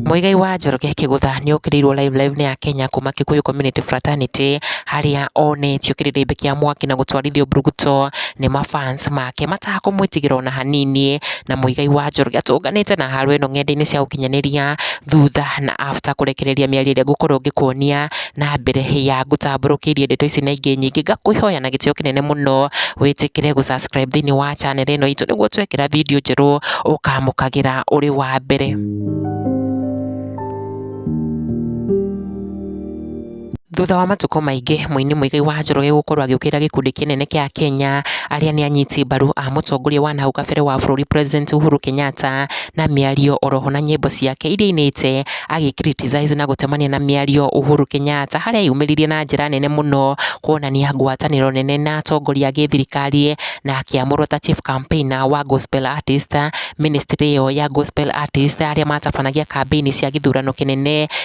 Mũigai wa Njoroge Kĩgũtha nĩ okĩrĩirwo Live Live nĩ ya Kenya kuma Kikuyu Community Fraternity harĩa onetio kĩrĩrĩmbĩ kĩa mwaki na gũtwarithio mburuguto nĩ mafans make mataha kũmwĩtigĩra ona hanini, na Mũigai wa Njoroge atũnganĩte na haro ĩno ng'enda-inĩ cia ũkinyanĩria thutha na after kũrekereria mĩario ĩrĩa ngũkorwo ngĩkuonia na mbere ya ngũtambũrũkĩirie ndeto ici na ingĩ nyingĩ, ngakũĩhoya na gĩtĩo kĩnene mũno wĩtĩkĩre gũ subscribe thĩiniĩ wa channel ĩno itũ nĩguo twekĩra video njerũ ũkamũkagĩra ũrĩ wa mbere. Thutha wa matukũ maingĩ mũini Muigai wa Njoroge gũkorwo agĩũkĩrĩra gĩkundi kĩnene kĩa Akenya arĩa nĩ anyiti mbaru a mũtongoria wa nahau kabere wa bũrũri President Uhuru Kenyatta na mĩario oroho na nyĩmbo ciake iria ainĩte agĩ criticize na gũtemania na mĩario Uhuru Kenyatta harĩa eyumĩririe na njĩra nene mũno kuonania ngwatanĩro nene na atongoria a gĩthirikari na akĩamũrwo ta Chief Campaigner wa Gospel Artist, Ministry ĩyo ya Gospel Artist arĩa matabanagia kambĩini cia gĩthurano kĩnene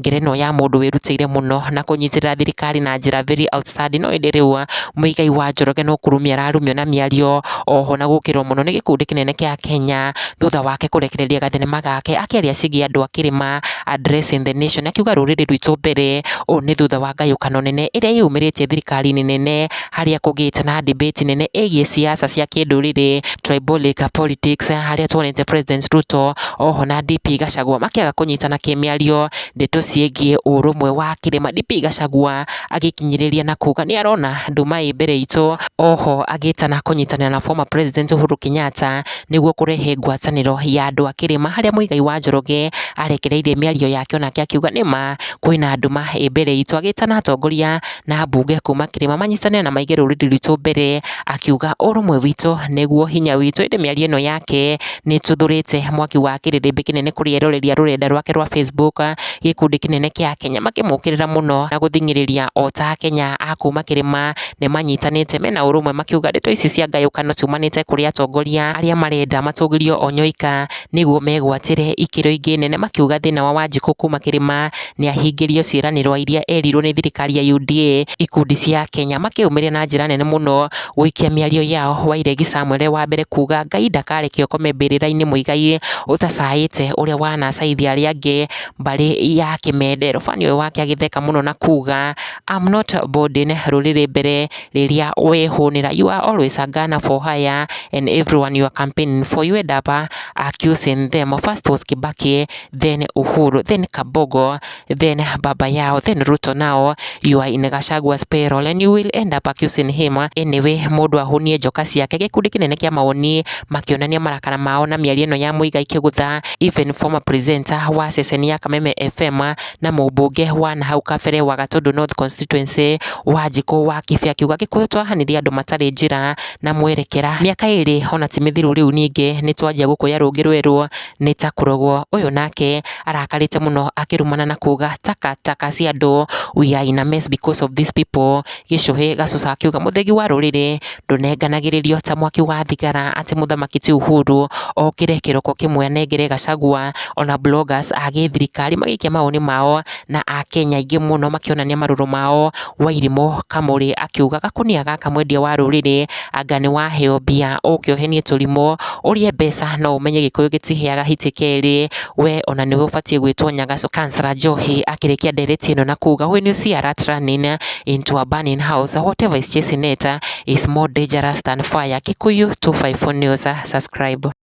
ngerenwa ya mũndũ wĩrutĩire mũno na kũnyitĩrĩra thirikari na njĩra very outstanding. No ĩndĩ rĩu mũigai wa Njoroge no kũrumio ararumio na mĩario oho na gũkĩrwo mũno nĩ gĩkundi kĩnene kĩa Akenya thutha wake kũrekereria gathenema gake akĩaria ciĩgiĩ andũ a kĩrĩma addressing the nation akiuga rũrĩrĩ rwitũ mbere. Ũũ nĩ thutha wa ngayũkano nene ĩrĩa yeyumĩrĩtie thirikari-inĩ nene harĩa kũgĩte na debate nene ĩgiĩ ciaca cia kĩndũrĩrĩ, tribalic politics, harĩa tuonete President Ruto oho na DP Gachagua makĩaga kũnyitana kĩmĩario ndeto ciĩgiĩ ũrũmwe wa kĩrĩma. DP Gachagua agĩkinyĩrĩria na kuga nĩ arona andũ marĩ mbere itũ, oho agĩtana kũnyitanĩra na former President Uhuru Kenyatta nĩguo kũrehe ngwatanĩro ya andũ a kĩrĩma, harĩa Mũigai wa Njoroge arekereirie mĩario yake onake akiuga nĩ ma kwĩna nduma ĩ mbere itũ, agĩtana atongoria... na ambunge kuuma kĩrĩma manyitane na maige rũrĩrĩ rwitũ mbere, akiuga ũrũmwe witũ nĩguo hinya witũ, ĩndĩ mĩario ĩno yake nĩ ĩtuthũrĩte mwaki wa kĩrĩrĩmbĩ kĩnene kũrĩ eroreri a rũrenda rwake rwa Facebook, gĩkundi kĩnene kĩa akenya makĩmũkĩrĩra mũno na gũthing'ĩrĩria ota akenya a kuuma kĩrĩma nĩ manyitanĩte mena ũrũmwe makiuga ndeto ici cia ngayũkano ciumanĩte kũrĩ atongoria arĩa marenda matũgĩrio onyoika, nĩguo megwatĩre ikĩro ingĩ nene makiuga thĩna wa wanjikũ kuuma kĩrĩma... nĩahingĩrio ciĩranĩrwa iria erirwo nĩ thirikari ya UDA, ikundi cia akenya makĩyũmĩria na njĩra nene mũno gũikia mĩario yao, Wairegi Samuel e wa mbere kuga Ngai ndakarekea ũkome mbĩrĩrainĩ Muigai ũtacaĩte ũrĩa wanacaithia arĩa angĩ mbarĩ ya kĩmende, rũbani ũyũ wake agĩtheka mũno na kuga I'm not boarding rũrĩrĩ mbere rĩrĩa wehũnĩra you are always a gunner for hire and everyone you are campaigning for you end up accusing them, first was Kibaki then Uhuru, then Kabogo, then Baba Yao, then Ruto now, you are in Gachagua's payroll and you will end up accusing him. Anyway, mũndũ ahonie njoka ciake gĩkundi kĩnene kĩa maoni makĩonania marakara mao na mĩario ĩno ya mũiga ikĩgũtha even former presenter wa ceceni ya Kameme FM na mũmbunge wa nahau kabere wa Gatundu North constituency wa Njikũ wa Kĩbĩ akiuga Gĩkũyũ twahanirie andũ matarĩ njĩra na mwerekera mĩaka ĩrĩ ona ti mĩthiru rĩu ningĩ nĩ twanjia gũkũya rũngĩ rwerũ nĩ ta kũrogwo. Ũyũ nake arakarĩte mũno akĩrumana na kuuga taka taka cia andũ, we are in a mess because of these people. Gĩcũhĩ gacoka gakĩuga mũthĩgi wa rũrĩrĩ ndũnenganagĩrĩrio ta mwaki wa thigara atĩ mũthamaki ti Uhuru okĩre kĩroko kĩmwe anengere Gachagua ona bloggers a gĩthirikari magĩikia mawoni mao na akenya aingĩ mũno makĩonania marũrũ mao. Wairimũ Kamũrĩ akiuga gakũnia gaka mwendia wa rũrĩrĩ... anga nĩ waheo mbia ũke ũhenie tũrimũ ũrĩe mbeca no ũmenye gĩkũyũ gĩtiheaga hiti kerĩ, we ona nĩwe ũbatiĩ gwĩtwo nyagaco. Councillor Njohi akĩrĩkia ndereti ĩno na kuga when you see a rat running into a burning house whatever is chasing it is more dangerous than fire. Kikuyu 254 News, subscribe.